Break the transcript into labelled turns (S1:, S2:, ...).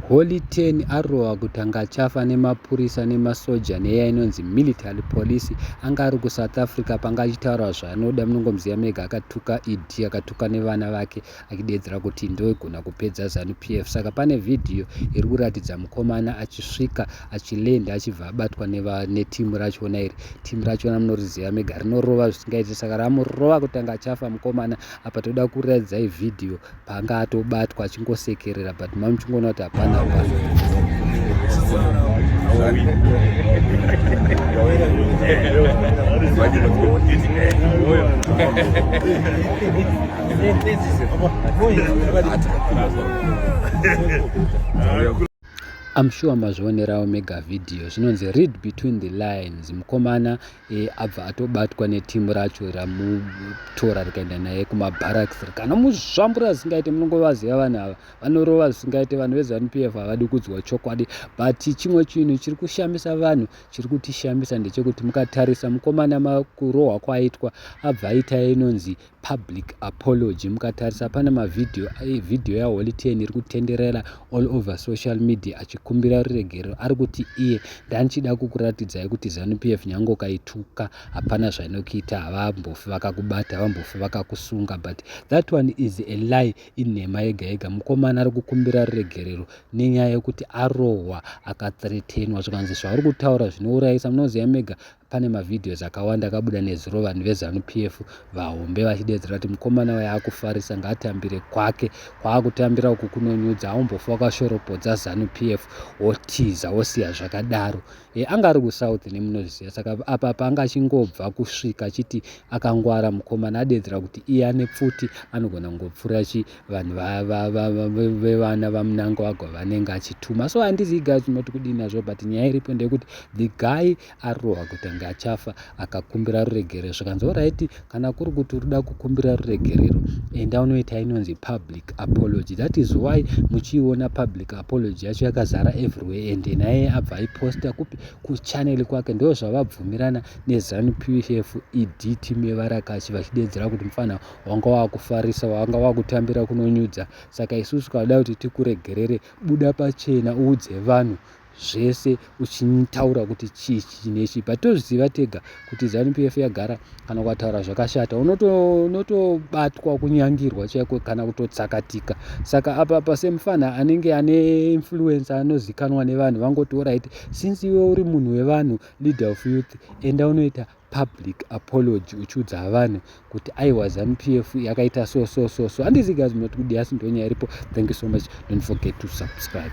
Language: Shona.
S1: Holy Ten arohwa kuti anga achafa nemapurisa nemasoja neya inonzi military police anga ari kuSouth Africa panga achitaura zvaanoda munongomuziva mega akatuka ED akatuka nevana vake achideedzera kuti ndoigona kupedza Zanu PF saka pane vhidhiyo iri kuratidza mukomana achisvika achilenda achibva abatwa netimu rachona iri timu rachona munoriziva mega rinorova zvisingaiti saka ramurova kutanga achafa mukomana apa toda kuraidzai vhidhiyo paanga atobatwa achingosekerera but mami chingoona kuti hapana hapana I'm sure mazvionerawo mega video zvinonzi read between the lines mukomana e, abva atobatwa neteam racho ramutora rikaenda naye kumabarracks rikanomuzvambura zvisingaite munongovaziva vanhu ava vanorova zvisingaite vanhu vezanup f havadi kudzwa chokwadi but chimwe chinhu chiri kushamisa vanhu chiri kutishamisa ndechekuti mukatarisa mukomana makurohwa kwaitwa abva aita inonzi public apology mukatarisa pane mavhidhiyo eh, vhidhiyo yaholy ten iri kutenderera all over social media achikumbira ruregerero ari kuti iye ndandichida kukuratidzai kuti zanu p f nyange ukaituka hapana zvainokuita havambofi vakakubata havambofi vakakusunga but that one is a lie inhema yega yega mukomana ari kukumbira ruregerero nenyaya yekuti arohwa akathretenwa zvikanzi zvauri kutaura zvinourayisa munoziva mega pane mavideos akawanda akabuda nezuro vanhu vezanu p f vahombe vachideedzera kuti mukomana waye akufarisa ngaatambire kwake kwaakutambira uku kunonyudza aumbofa wakashoropodza zanu p f wotiza wosiya zvakadaro e, anga ari kusouth nemunozviziva saka apa apa anga achingobva kusvika achiti akangwara mukomana adeedzera kuti iye ane pfuti anogona kungopfuura chi vanhu vevana vamunanga wagwa vanenge achituma so handiziga tinoti kudii nazvo but nyaya iripo ndeyekuti the guy arohwa kuti ange achafa akakumbira ruregerero zvikanzi oraiti kana kuri kuti uri da kukumbira ruregerero enda unoita inonzi public apology that is why muchiiona public apology yacho yakazara everywhere and naye abva aiposta kupi kuchanel kwake ndo zvavabvumirana nezanu pf ed team yevarakashi vachideedzera kuti mufana wanga wakufarisa wanga wakutambira kunonyudza saka isusu kada kuti tikuregerere buda pachena uudze vanhu zvese uchitaura kuti chii chii nechii but tozviziva tega kuti zanupf yagara kana ukataura zvakashata unotobatwa unoto kunyangirwa chaiko kana kutotsakatika saka apa apa semufana anenge ane influence anozikanwa nevanhu vangoti orit since iwe uri munhu wevanhu leader of youth enda unoita public apology uchiudza vanhu kuti aiwa zanupf yakaita so so so so handizigazimnot kudiasi ndonyaya iripo thank you so much don't forget to subscribe